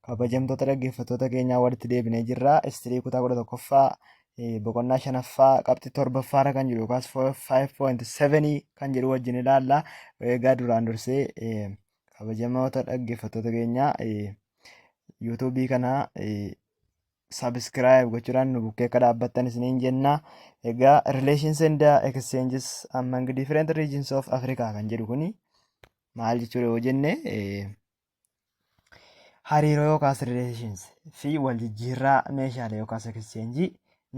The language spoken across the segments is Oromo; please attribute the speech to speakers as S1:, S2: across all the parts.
S1: Kabajamtoota dhaggeeffattoota keenyaa walitti deebinee jirra. Istirii kutaa kudha tokkoffaa boqonnaa shanaffaa qabxii torbaffaarra kan jiru yookaas 5.7 kan jedhu wajjin ilaalla. Egaa duraan dursee kabajamoota dhaggeeffattoota keenyaa yuutuubii kana sabiskiraayib gochuudhaan nu bukkee akka dhaabbattan isiniin jenna. Egaa relations and exchanges among different regions of Africa kan jedhu kuni maal jechuudha yoo jenne Hariiroo yookaas relations fi wal jijjiirraa meeshaalee yookaas exchange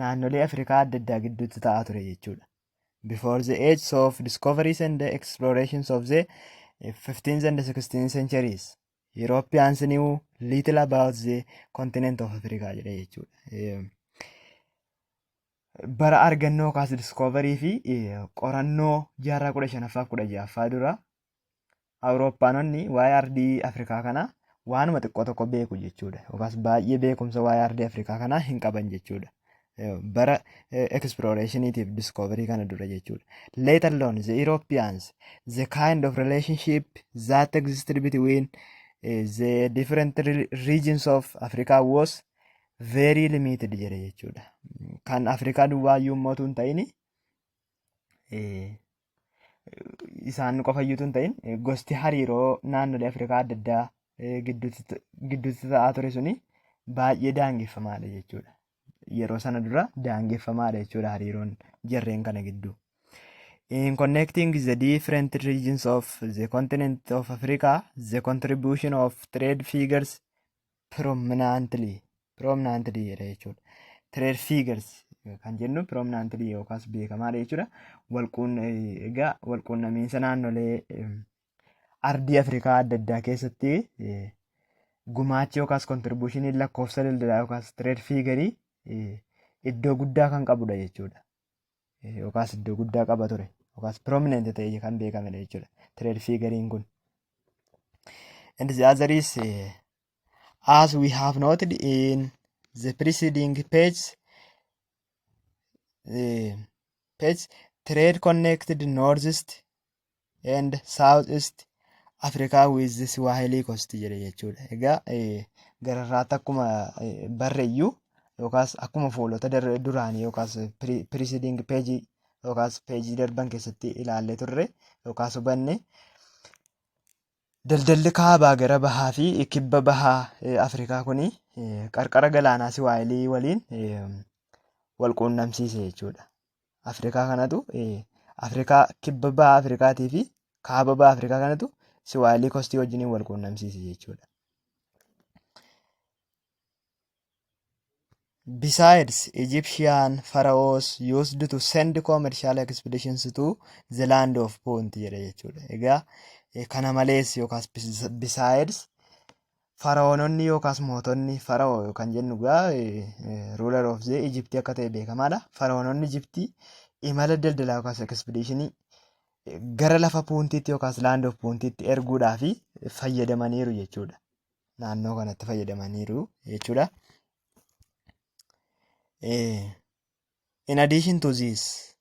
S1: naannolee Afrikaa adda addaa gidduutti ta'aa ture jechuudha. Before the age of discoveries and explorations of the 15th and 16th centuries, Europeans knew little about the continent of Africa jedha jechuudha. Bara argannoo yookaas discovery fi qorannoo jaarraa kudha shanaffaa kudha ja'affaa dura Awurooppaanonni waa'ee ardii Afrikaa kanaa waanuma xiqqoo tokko beeku jechuudha. Yookaas baay'ee beekumsa waa'ee ardii Afrikaa kanaa hin qaban jechuudha. Bara explorationitiif discovery kana dura jechuudha. Let alone the Europeans, the kind of relationship that existed between eh, the different re- regions of Africa was very limited jedhe jechuudha. Kan Afrikaa duwwaa iyyuu immoo utuu hin ta'ini eh, isaan qofa iyyuu tun ta'in gosti hariiroo naannolee Afrikaa adda addaa eh, gidduutti ta- gidduutti ta'aa ture suni baay'ee daangeffamaadha jechuudha. Yeroo sana dura daangeffamaadha jechuudha hariiroon jarreen kana gidduu. In connecting the different regions of the continent of Africa, the contribution of trade figures prominently prominently jedha jechuudha. Trade figures kan jennu prominently yookaas beekamaadha jechuudha. Walquun egaa walquunnamiinsa naannolee em, ardii Afrikaa adda addaa keessatti eh, gumaachi yookaas kontribuushiniin lakkoofsa daldalaa yookaas trade fiigarii iddoo guddaa kan qabudha jechuudha. yookaas iddoo guddaa qaba ture yookaas prominent ta'e kan beekamedha jechuudha trade figuriin kun. And the other is eh, as we have noted in the preceding page, eh, page trade connected northeast and south east Africa with the Swahili coast jedhe jechuudha. Egaa gararraatti akkuma barreeyyuu yookaas akkuma fuulota duraanii yookaas preceding page yookaas page darban keessatti ilaallee turre yookaas hubanne Daldalli kaabaa gara bahaa fi kibba bahaa Afrikaa kun qarqara galaanaa Siwaayilii waliin wal quunnamsiise jechuudha. Afrikaa kanatu Afrikaa kibba bahaa Afrikaatii fi kaaba bahaa Afrikaa kanatu Siwaayilii kostii wajjiniin wal quunnamsiise jechuudha. Besides, Egyptian pharaohs used to send commercial expeditions to the land of Punt jedha jechuudha. Egaa eh, kana malees yookaas bes- besides faraoononni yookaas mootonni faraoo yookaan jennu egaa ruler of the Egypt akka ta'e beekamaadha. Faraoononni Egypt imala daldalaa yookaas expeditionii eh, gara lafa Puuntiitti yookaas land of Puuntiitti erguudhaaf fayyadamaniiru jechuudha. naannoo kanatti fayyadamaniiru jechuudha. In addition to this,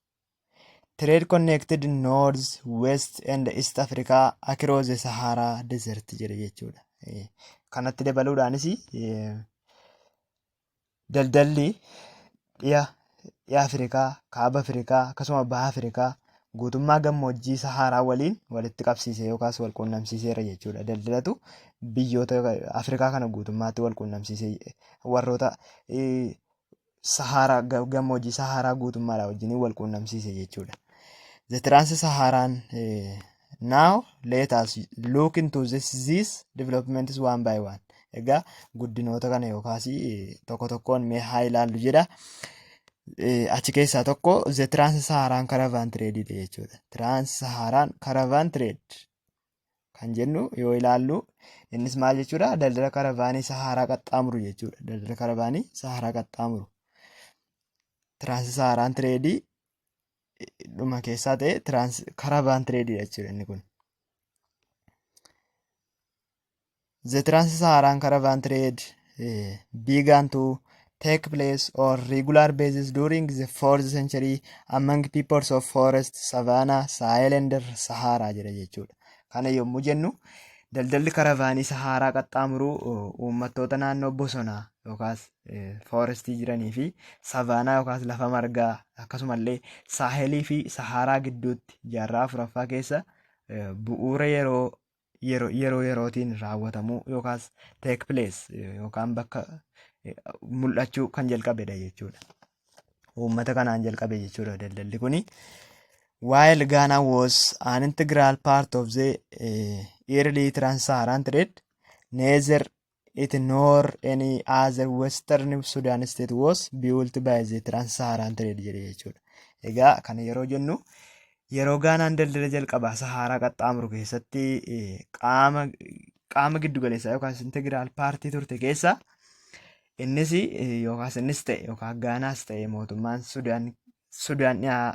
S1: trade connected North, West and East Africa across the Sahara Desert jedhe jechuudha. Kanatti dabaluudhaanis daldalli dhiha dhiha Afrikaa, kaaba Afrikaa akkasuma baha Afrikaa guutummaa gammoojjii Sahaaraa waliin walitti qabsiisee yookaas wal quunnamsiiseera jechuudha. Daldalatu biyyoota yookaan Afrikaa kana guutummaatti wal quunnamsiisee warroota eh, Sahaaraa ga- gammoojjii Sahaaraa guutummaadhaa wajjin wal quunnamsiise jechuudha. The Trans Saharan eh, Now let us look into this, these developments one by one. Egaa guddinoota kana yookaas tokko tokkoon mee haa ilaallu jedha. Achi keessaa tokko the trans saharaan caravan trade dha jechuudha. Trans saharaan caravan trade kan jennu yoo ilaallu innis maal jechuudha daldala karavaanii saharaa qaxxaamuru jechuudha. Daldala karavaanii saharaa qaxxaamuru. Trans saharaan trade dhuma keessaa ta'e tiraans karaa baan tireediidha jechuudha inni kun. The Trans-Saharan Caravan Trade eh, began to take place on regular basis during the 4th century among peoples of forest, savanna, Sahel and Sahara jedha jechuudha. Kana yommuu jennu daldalli karavaanii Saharaa qaxxaamuruu oh, uummattoota naannoo bosonaa yookaas foorestii jiranii fi savaanaa yookaas lafa margaa akkasumallee saahelii fi sahaaraa gidduutti jaarraa afuraffaa keessa bu'uura yeroo yeroo yerootiin raawwatamuu yookaas take place yookaan bakka mul'achuu kan jalqabedha jechuudha. Uummata kanaan jalqabe jechuudha daldalli kuni. While Ghana was an integral part of the early trans-Saharan trade, neither it nor any other western Sudan state was built by the trans-Saharan trade jedhe jechuudha. Egaa kana yeroo jennu yeroo Gaanaan daldala jalqabaa Sahaaraa qaxxaamuru keessatti qaama qaama giddu galeessaa yookaas integiraal paartii turte keessa innis yookaas innis ta'e yookaan Gaanaas ta'e mootummaan Sudaan Sudaan dhiyaa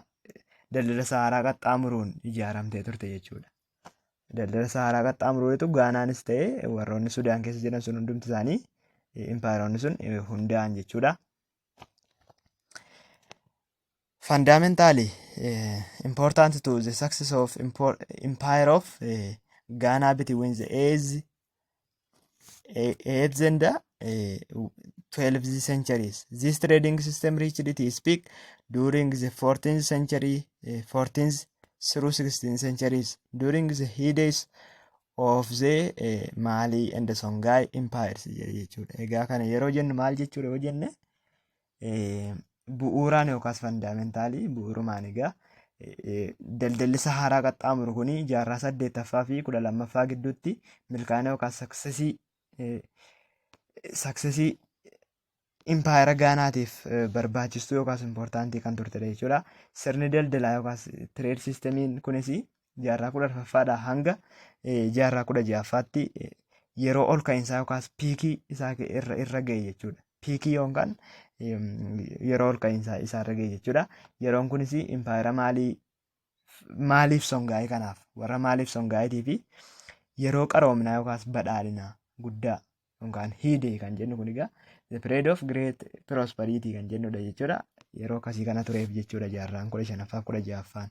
S1: daldala Sahaaraa qaxxaamuruun ijaaramtee turte jechuudha. Daldala Sahaaraa qaxxaamuruutu Gaanaanis ta'e warroonni Sudaan keessa jiran sun hundumti isaanii impaayeronni sun hundaa'an jechuudha. Fundamentally important to the success of empire of Ghana between the age 8 and uh, 12 the centuries. This trading system reached its peak during the 14th century, uh, 14th through 16th centuries, during the heydays of the uh, Mali and the Songhai empires jechuudha. Egaa kana yeroo jennu maal jechuudha yoo jenne bu'uuraan yookaas fandaamentaali bu'uurumaan egaa daldallisa haaraa qaxxaamuru kun jaarraa saddeettaffaa fi kudha lammaffaa gidduutti milkaa'ina yookaas saksesii saksesii impaayera gaanaatiif barbaachistuu yookaas impoortaantii kan turtedha jechuudha. Sirni daldalaa yookaas tireed siistemiin kunis jaarraa kudha arfaffaadhaa hanga jaarraa kudha ja'affaatti yeroo ol ka'insaa yookaas piikii isaa irra irra ga'e jechuudha. Piikii yookaan yeroo ol ka'insaa isaa irra ga'e jechuudha. Yeroon kunis impaayera maalii maaliif songaa'ee kanaaf warra maaliif songaa'eetii fi yeroo qaroominaa yookaas badhaadhinaa guddaa yookaan hiidee kan jennu kun egaa the period of great prosperity kan jennudha jechuudha. Yeroo akkasii kana tureef jechuudha jaarraan kudha shanaffaa kudha ja'affaan.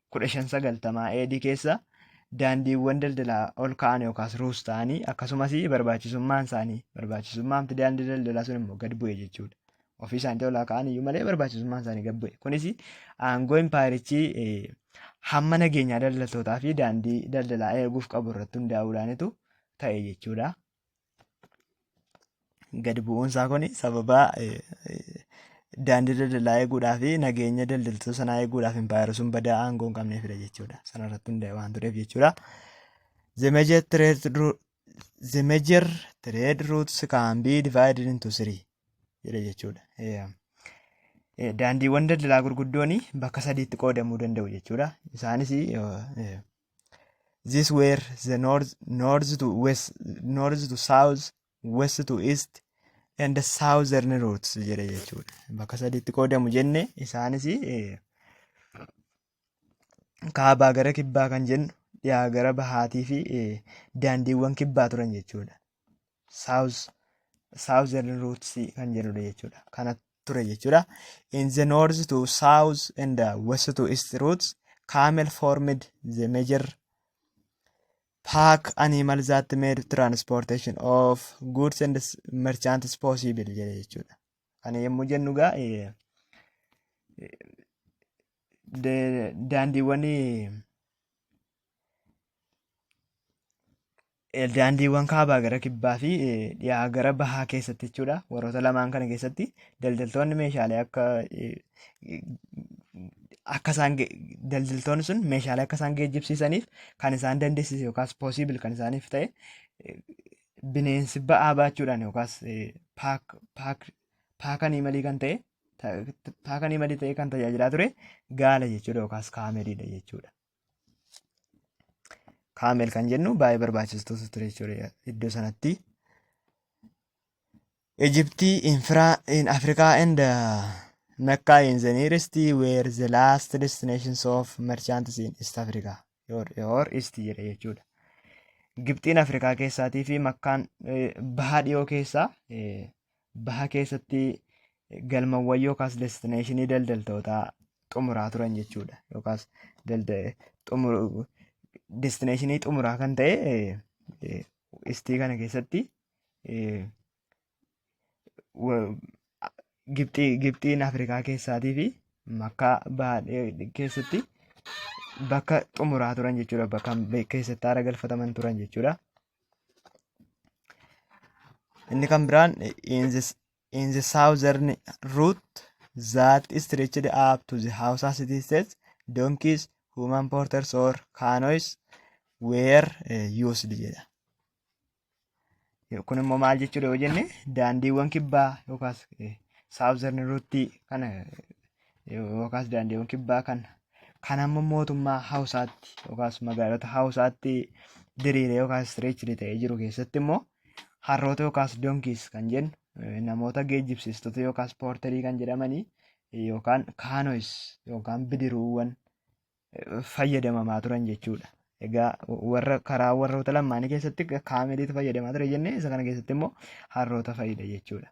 S1: 1590 AD keessa daandiiwwan daldalaa ol ka'an yookaas ruus ta'anii akkasumas barbaachisummaan isaanii barbaachisummaan daandii daldalaa sun immoo gad bu'e jechuudha. Ofii isaaniitti olaa ka'an iyyuu malee barbaachisummaan isaanii gad bu'e. Kunis aangoo impaayirichi hamma nageenyaa daldaltootaa fi daandii daldalaa eeguuf qabu irratti hundaa'uudhaanitu ta'e jechuudha. Gadi bu'uun isaa kun sababa daandii daldalaa eeguudhaa fi nageenya daldaltoota sanaa eeguudhaaf impaayera sun badaa aangoo hin qabneefidha jechuudha. Sana irratti hundaa'e waan tureef jechuudha. The major trade route the major trade routes can be divided into three jedha jechuudha. Daandiiwwan daldalaa gurguddoon bakka sadiitti qoodamuu danda'u jechuudha. Isaanis This were the north, north to west, north to south, west to east, and the southern routes jedhe jechuudha. Bakka sadiitti qoodamu jenne isaanis eh, kaabaa gara kibbaa kan jennu dhiyaa gara bahaatii fi eh, daandiiwwan kibbaa turan jechuudha. saawuz saawuzern ruuts kan jedhudha jechuudha kana ture jechuudha in the north to south and the west to east routes camel formed the major pack animal that made transportation of goods and s- merchants possible jedhe jechuudha kana yommuu jennu gaa eh, de- daandiiwwan daandiiwwan kaabaa gara kibbaa fi dhiyaa gara bahaa keessatti jechuudha. Warroota lamaan kana keessatti daldaltoonni meeshaalee akka akka isaan daldaltoonni sun meeshaalee akka isaan geejjibsiisaniif kan isaan dandeessise yookaas poosiibil kan isaaniif ta'e bineensi ba'aa baachuudhaan yookaas paakanii malii kan ta'e paakanii malii ta'e kan tajaajilaa ture gaala jechuudha yookaas kaameliidha jechuudha. kaamel kan jennu baay'ee barbaachistoota ture jechuudha iddoo sanatti. Ijiptii infiraa in Afrikaa and Mecca in the nearest were the last destinations of merchants in East Africa or East jedha jechuudha. Gibxiin Afrikaa keessaatii fi Makkaan bahaa dhiyoo keessaa Baha keessatti galmawwan yookaas destineeshinii daldaltootaa xumuraa turan jechuudha. Yookaas destineeshinii xumuraa kan ta'e istii kana keessatti Gibxiin Afrikaa keessaatii fi makkaa baha keessatti bakka xumuraa turan jechuudha. Bakka keessatti haara galfataman turan jechuudha. Inni kan biraan in the, in the southern route that stretched up to the Hausa city states, donkeys, human porters or canoes were eh, used jedha. Kun immoo maal jechuudha yoo jenne daandiiwwan kibbaa yookaas eh, southern route kana eh, yookaas daandiiwwan kibbaa kan kan amma mootummaa hawusaatti yookaas magaalota hawusaatti diriiree yookaas istireechiri ta'ee jiru keessatti immoo harroota yookaas donkiis kan jennu eh, namoota geejjibsiistota yookaas poorterii kan jedhamanii eh, yookaan kaanois yookaan bidiruuwwan eh, fayyadamamaa turan jechuudha. Egaa warra karaa warroota lamaanii keessatti kaameliitu fayyadamaa ture jennee isa kana keessatti immoo harroota fayyada jechuudha.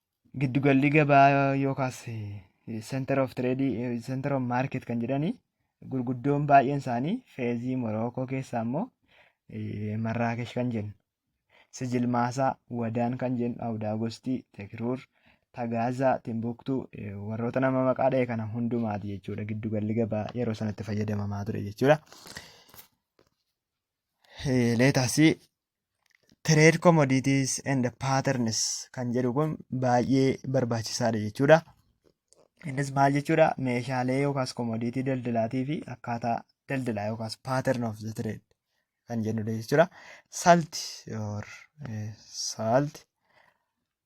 S1: Giddugalli gabaa yookaas center of trade center of market kan jedhani gurguddoon baay'een isaanii feezii Morookoo keessaa immoo Marraakesh kan jennu Sijilmaasaa Wadaan kan jennu Awudaagostii Tekiruur Tagaazaa Timbuktuu warroota nama maqaa dha'e kana hundumaati jechuudha giddugalli gabaa yeroo sanatti fayyadamamaa ture jechuudha. Leetaasii trade commodities and patterns kan jedhu kun baay'ee barbaachisaadha jechuudha. Innis maal jechuudha meeshaalee yookaas commodity daldalaatii fi akkaataa daldalaa yookaas pattern of the trade kan jennudha jechuudha. Salt or salt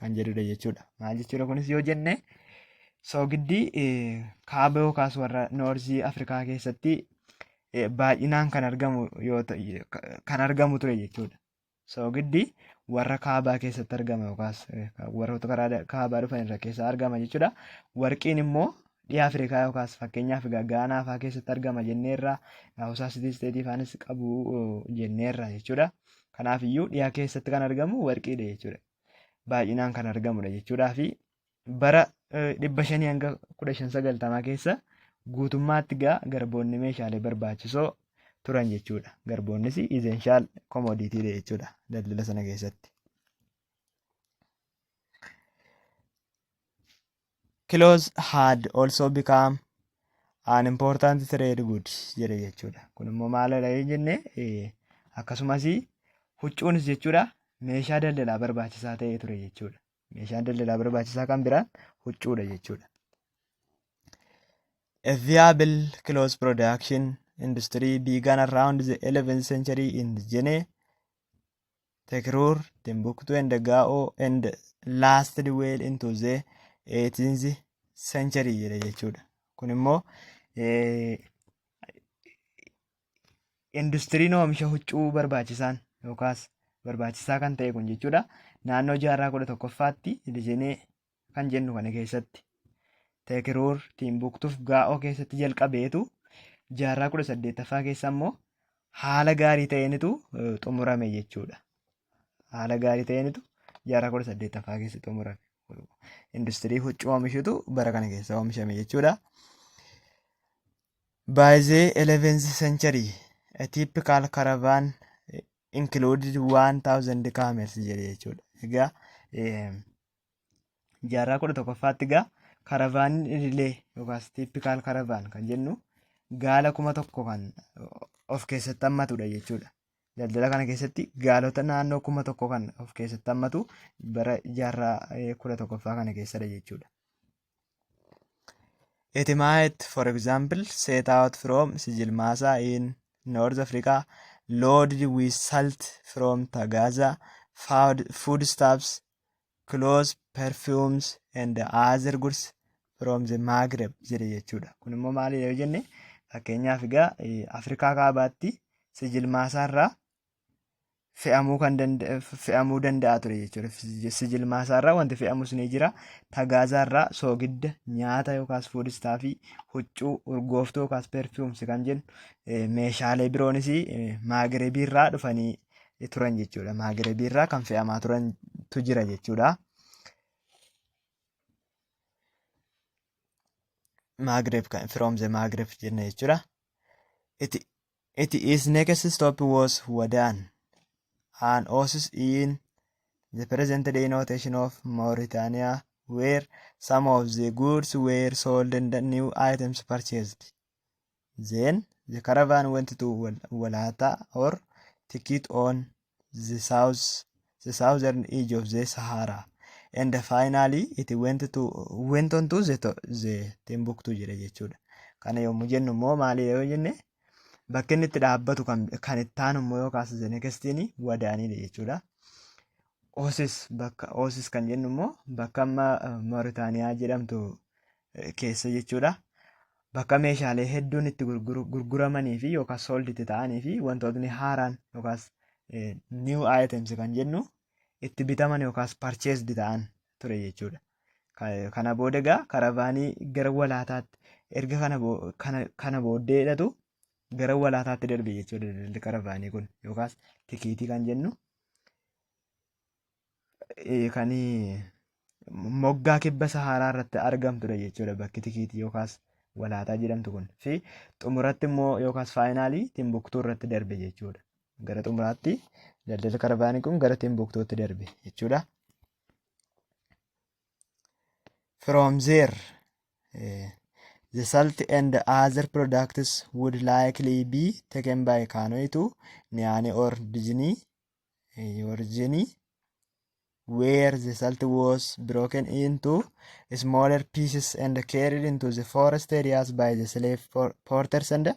S1: kan jedhudha jechuudha. Maal jechuudha kunis yoo jenne soogiddi kaaba yookaas warra noorzii Afrikaa keessatti baay'inaan kan argamu yoo kan argamu ture jechuudha. Soogiddi warra kaabaa keessatti argama yookaas warroota karaa kaabaa dhufan irra keessa argama jechuudha. Warqiin immoo dhiha Afrikaa yookaas fakkeenyaaf Gaanaa fa'aa keessatti argama jenneerra Hawusaa Sitii Isteetii faanis qabu jenneerra jechuudha. Kanaafiyyuu dhiha keessatti kan argamu warqiidha jechuudha. baay'inaan kan argamudha jechuudhaa fi bara dhibba shanii hanga kudha shan sagaltamaa keessa guutummaatti gaa garboonni meeshaalee barbaachisoo turan jechuudha. Garboonnis izeenshaal komoodiitiidha jechuudha daldala sana keessatti. clothes had also become an important trade good jedhe jechuudha. Kun immoo maalidha yoo jenne eh, akkasumas huccuunis jechuudha meeshaa daldalaa barbaachisaa ta'ee ture jechuudha. Meeshaan daldalaa barbaachisaa kan biraan huccuudha jechuudha. A viable clothes production industry began around the 11th century in Jene Tekruur, Timbuktu and Gaa'o and lasted well into the 18th century jedha jechuudha. Kun immoo industiriin oomisha huccuu barbaachisaan yookaas barbaachisaa kan ta'e kun jechuudha. Naannoo jaarraa kudha tokkoffaatti riijinii kan jennu kana keessatti Teekiruur Tiimbuuktuuf Gaa'oo keessatti jalqabeetu jaarraa kudha saddeettaffaa keessa immoo haala gaarii ta'eenitu eh, xumurame jechuudha. Haala gaarii ta'eenitu jaarraa kudha saddeettaffaa keessa xumurame. Industirii huccuu oomishutu bara kana keessa oomishame jechuudha. By the 11th century, a typical caravan eh, included 1000 camels jedhe jechuudha. Egaa eh, jaarraa kudha tokkoffaatti gaa karavaaniin idilee yookaas tippikaal karavaan kan jennu gaala kuma tokko kan of keessatti hammatudha jechuudha. Daldala kana keessatti gaalota naannoo kuma tokko kan of keessatti hammatu bara jaarraa kudha tokkoffaa kana keessadha jechuudha. It might, for example, set out from Sijilmasa in North Africa, loaded with salt from Tagaza, food, foodstuffs, clothes, perfumes and other goods from the Maghreb jedhe jechuudha. Kun immoo maali yoo jenne fakkeenyaaf egaa Afrikaa kaabaatti sijilmaasaarraa fe'amuu kan fe'amuu danda'a ture jechuudha. Sijilmaasaarraa wanti fe'amus ni jira. Tagaazaarraa soogidda nyaata yookaas fuudistaa fi huccuu urgooftuu yookaas perfumes kan jennu meeshaalee biroonis maagirebiirraa dhufanii turan jechuudha. Maagrebii irraa kan fe'amaa turantu jira jechuudha. Maghreb kan from the Maghreb jenna jechuudha. It, it is next stop was Wadaan. An oasis in the present day notation of Mauritania where some of the goods were sold and new items purchased. Then the caravan went to Wal- Walata or Tikit on the south, the southern edge of the Sahara. And finally it went to went on to the, to- the Timbuktu jedhe jechuudha. Kana yommuu jennu immoo maali yoo jenne bakki inni itti dhaabbatu kan kan itti aanu immoo yoo kaasa the next in wadaaniidha jechuudha. Osis bakka Osis kan jennu immoo bakka amma eh, Mooritaaniyaa jedhamtu keessa jechuudha. Bakka meeshaalee hedduun itti gurguramanii fi yookaan sold itti ta'anii fi wantootni haaraan yookaan new items kan jennu itti bitaman yookaan purchased ta'an ture jechuudha. Kana booda egaa karavaanii gara walaataatti erga kana kana kana booddeedhatu gara walaataatti darbe jechuudha daldalli karavaanii kun yookaan tikiitii kan jennu. eh, kan moggaa kibba Sahaaraa irratti argamtudha jechuudha bakki tikiitii yookaas walaataa jedhamtu kun fi xumuratti immoo yookaas faayinaalii Timbuktuu irratti darbe jechuudha. Gara xumuraatti daldala karavaanii kun gara Timbuktuutti darbe jechuudha. From there, eh, the salt and other products would likely be taken by Kanoi to Niani or Disney Yorjini where the salt was broken into smaller pieces and carried into the forest areas by the slave por- porters and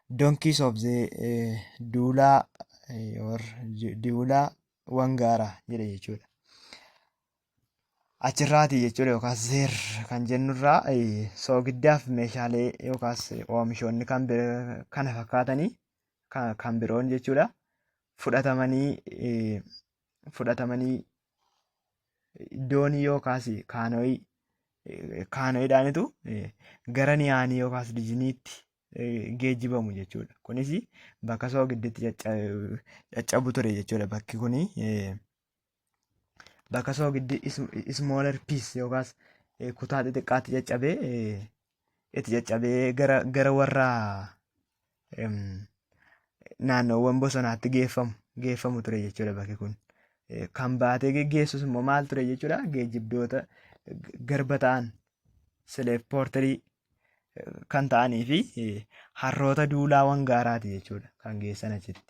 S1: donkeys of the uh, Dula eh, or Ju- Dula Wangara jedhe jechuudha. Achirraati jechuudha yookaas zeer kan jennurraa eh, soogiddaaf meeshaalee yookaas eh, oomishoonni kan bir- kana fakkaatanii ka- kan biroon jechuudha fudhatamanii eh, fudhatamanii doonii yookaas kaanoyii eh, kaanoyiidhaanitu eh, gara niyaanii yookaas dijiniitti eh, geejjibamu jechuudha. Kunis bakka soogidditti cacca- caccabu ture jechuudha bakki kuni. eh, bakka soogiddi smaller piece yookaas eh, kutaa xixiqqaatti caccabee eh, itti caccabee gara gara warra em, naannoowwan bosonaatti geeffamu geeffamu ture jechuudha bakki kun. Eh, Kan baatee geggeessus immoo maal ture jechuudha geejjibdoota g- garba ta'an slave porterii kan ta'anii fi eh, harroota duulaa wangaaraati jechuudha kan geessan achitti.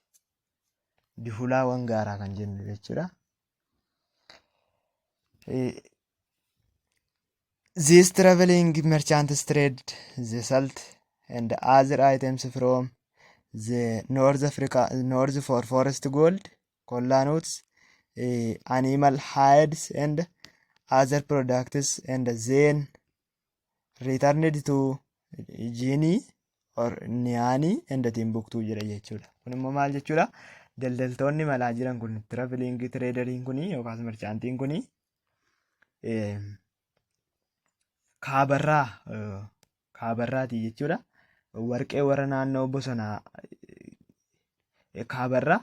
S1: dihulaawwan gaaraa kan jennu jechuudha. These traveling merchants trade the salt and other items from the North Africa, North for forest gold, cola nuts, eh, animal hides and other products and then returned to jiinii or niyaanii and timbuktuu jedha jechuudha. Kun immoo maal jechuudha? Daldaltoonni malaa jiran kun traveling traderiin kun yookaas marchaantiin kun kaabarraa kaabarraati jechuudha. Warqee warra naannoo bosonaa kaabarraa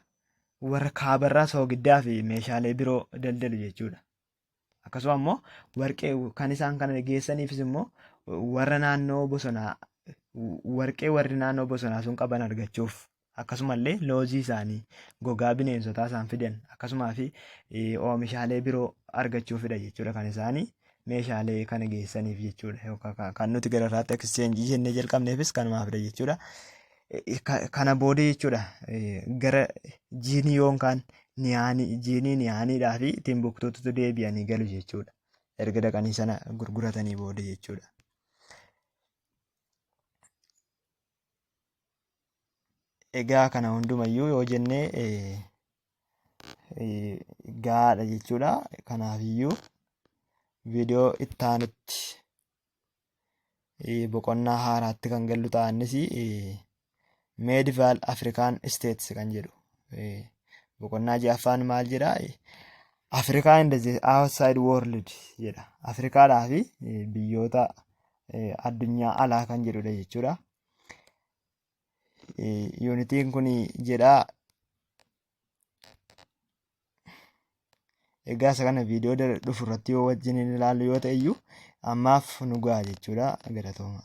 S1: warra kaabarraa soogiddaa fi meeshaalee biroo daldalu jechuudha. Akkasuma immoo warqee kan isaan kana geessaniifis immoo warra naannoo bosonaa warqee warri naannoo bosonaa sun qaban argachuuf akkasumallee loozii isaanii gogaa bineensotaa isaan fidan akkasumaa fi oomishaalee biroo argachuufidha jechuudha kan isaanii meeshaalee kana geessaniif jechuudha kan nuti gara irraatti exchange jennee jalqabneefis kanumaafidha jechuudha. Kana booda jechuudha gara jiinii yoon kaan niyaanii jiinii niyaaniidhaa fi timbuktuutu deebi'anii galu jechuudha. Erga dhaqanii sana gurguratanii booda jechuudha. Egaa kana hundumayyuu yoo jennee gaadha jechuudha. Kanaafiyyuu viidiyoo itti aanutti boqonnaa haaraatti kan gallu ta'a innis meedivaal afrikaan isteets kan jedhu boqonnaa ja'affaan maal jedha afrikaa inda outside world jedha afrikaadhaa fi biyyoota addunyaa alaa kan jedhudha jechuudha yuunitiin kun jedha egaa isa kana viidiyoo dhufu irratti yoo wajjin ilaallu yoo ta'e iyyuu ammaaf nu ga'a jechuudha galatooma.